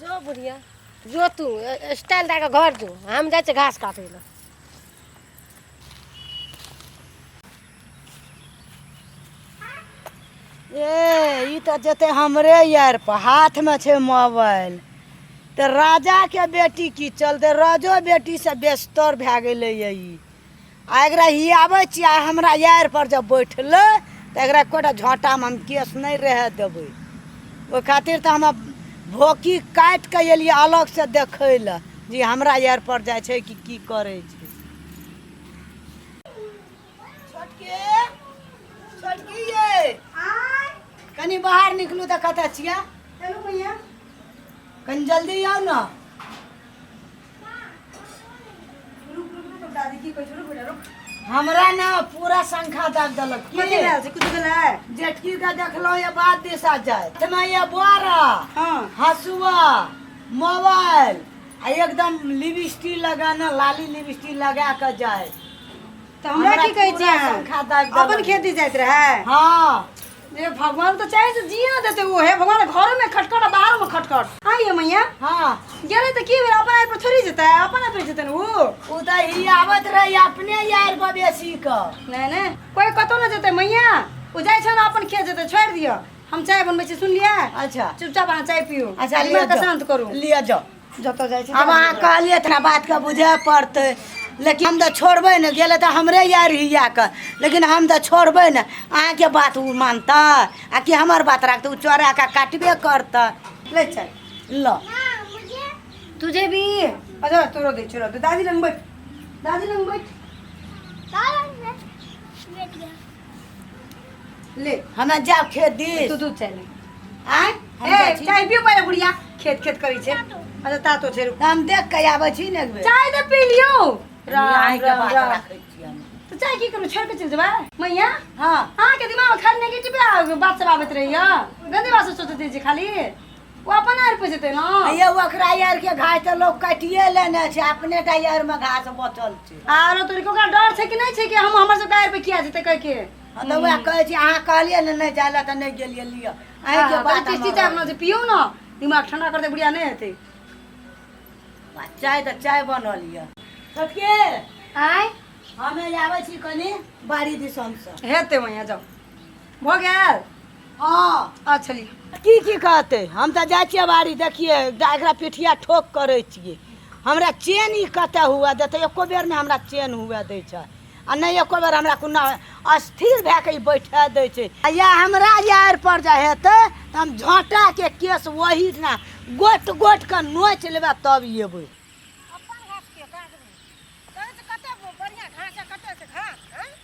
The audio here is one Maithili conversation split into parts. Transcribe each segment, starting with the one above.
जो बुढ़िया जो तू स्टाइल दए कऽ घर जो हम जाइ छियै घास काटै लए ए ई तऽ जेतै हमरे यार पर हाथमे छै मोबाइल तऽ राजाके बेटी की चलतै राजो बेटीसँ बेस्तर भए गेलैए ई आ एकरा हियाबै छियै आ हमरा यार पर जब बैठलै तऽ एकरा एकोटा झोटामे हम केस नहि रहए देबै ओहि खातिर तऽ हम भोकी काटि कऽ एलियै अलगसँ देखै लए जे हमरा यार पर जाइ छै कि की करै छै छोटके छोटकी ये कनी बाहर निकलू तऽ कतऽ छियै चलू भैया कनी जल्दी आउ ने रुक रुक रुक दादी की कहै छै रुक बेटा रुक हमरा ने पूरा संख्या दाग देलक की? कथी भेल छै कुछ भेल है जेटकी के देखलहुँ ये बात दिशा जाय तेना ये बारह हाँ हसुआ मोबाइल आ एकदम लिपस्टिक लगाना लाली लिपस्टिक लगा कऽ जाय तऽ हमरा की कहै पूरा छै पंखा दाबि देलक। अपन खेती जाइत रहै हाँ जे भगवान तऽ चाहे जे जिए ना देते ओहे भगवान घरो में खटखट आ बाहरो में खटखट हाँ ये मैया हाँ गेले तऽ की भेल अपन आइ पर थोड़ी जेतै अपन आइ पर जेतै ने ऊ उ तऽ ही आवत रही अपने यार बबेसी क नहि नहि कोइ कतौ ना जेतै मैया ऊ जाइ छै ने अपन खेत जेतै छोड़ि दिअ हम चाय बनबै छी सुनलियै अच्छा चुपचाप अहाँ चाय पियू अच्छा दिमाग के शान्त करू लिअ जाओ जतऽ जाइ छी आब अहाँ कहलियै तऽ बातके बुझे पड़तै लेकिन हम तऽ छोड़बै ने गेलै तऽ हमरे यार हिया कऽ लेकिन हम तऽ छोड़बै ने अहाँके बात ओ मानतै आ कि हमर बात राखतै ओ चोरा कऽ काटबे करतै ले चल ल तू जेबी अच्छा तोरो दै छोड़ दादी लग बैठ दादी लग बैठ ले हमरा जाओ खेत दिस तू दूध चाही आय हम ए जाइ छी। चाय पियो पहिले बुढ़िया खेत खेत करी छै अच्छा ता तो छै रुक हम देख के आबै छी ने एक बेर चाय तो पी लियो राम आइ के राम बात राम राखै छी हम। तो चाय की करू छोड़ के चल जेबा मैया हाँ अहाँ के दिमाग में खाली नेगेटिव बात सब आबैत रहैया गंदी बात सब सोचैत रहै छी खाली ओ अपन आर पे जेतै ने ये ओकरा यार के घास तऽ लोक काटिए लेने छै अपने टा यार में घास बचल छै आरो तोरी के ओकरा डर छै कि नहीं छै कि हम हमर सबके आर पे किया जेतै कह के हँ तऽ वएह कहै छी अहाँ कहलियै ने नहि जाय लए तऽ नहि गेलियै लिअ अहीं के बात बात किस्ती चाय बना दे पियो ना दिमाग ठंडा कर दे बुढ़िया नहीं हेतै आ चाय तऽ चाय बनल यऽ छोटके आय हमे आबै छी कनी बाड़ी दिसन से हेतै वहाँ जाओ भऽ गेल हँ आ छलियै की की कहतै हम तऽ जाइ छियै बाड़ी देखियै दा- एकरा पिठिया ठोक करै छियै हमरा चेन ई कतऽ हुए देतै एको बेर नहि हमरा चेन हुए दै छै आ नहि एको बेर हमरा कोनो अस्थिर भए कऽ ई बैठा दै छै आ या हमरा यार पर जे हेतै तऽ हम झोंटाके केस ओही दिना गोट गोट कऽ नोच लेबै तब एबै अपन घास के काटबै तहन तऽ कते बढ़िया घास आ कते छै घास हैं?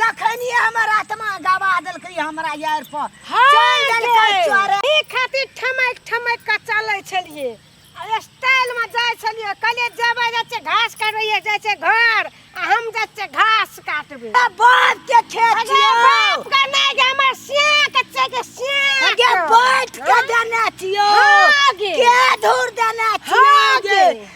तखनिए हमर आत्मा गवा देलकै हमरा यार पर चल देलकै चोरे ई खातिर ठमक ठमक के चलै छलिए आ स्टाइल में जाय छलिए कले जेबै जाय छै घास काटबै जाय छै घर आ हम जाय छै घास काटबै आ बाप के खेत अगे छियौ बाप के नहीं गे हमर सिया के छै के सिया अगे के। बैठ के देने छियौ हाँ गे। के धूर देने छियौ हाँ गे गे।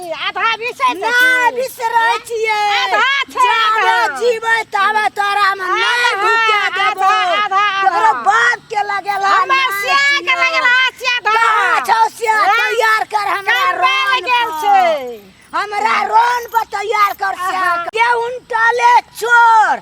आधा बिसै नहि बिसरै छियै आधा छै आधा जीबै ताबे तोरा मे नहि भूखे देबो आधा तोरा बाप के लगेला हमरा से के लगेला से आधा छौ से तैयार कर हमरा रोन गेल छै हमरा रोन पर तैयार कर से के उनटले चोर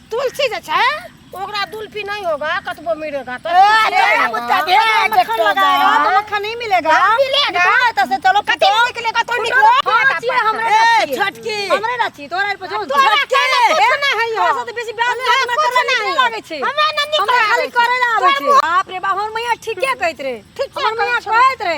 तुलसी जे छै ओकरा दुल्फी नहीं होगा कतबो मिलेगा तो मक्खन नहीं मिलेगा मिलेगा तो से चलो कति निकले का तो निकलो फांसी हमरे नची छटकी हमरे नची तोरा पर जो तोरा के कुछ ना है यो से बेसी ब्याज ना करे नहीं लागे छै हमरा ना निकले खाली करे ना आवे छै बाप रे बाप हमर मैया ठीके कहत रे हमर मैया कहत रे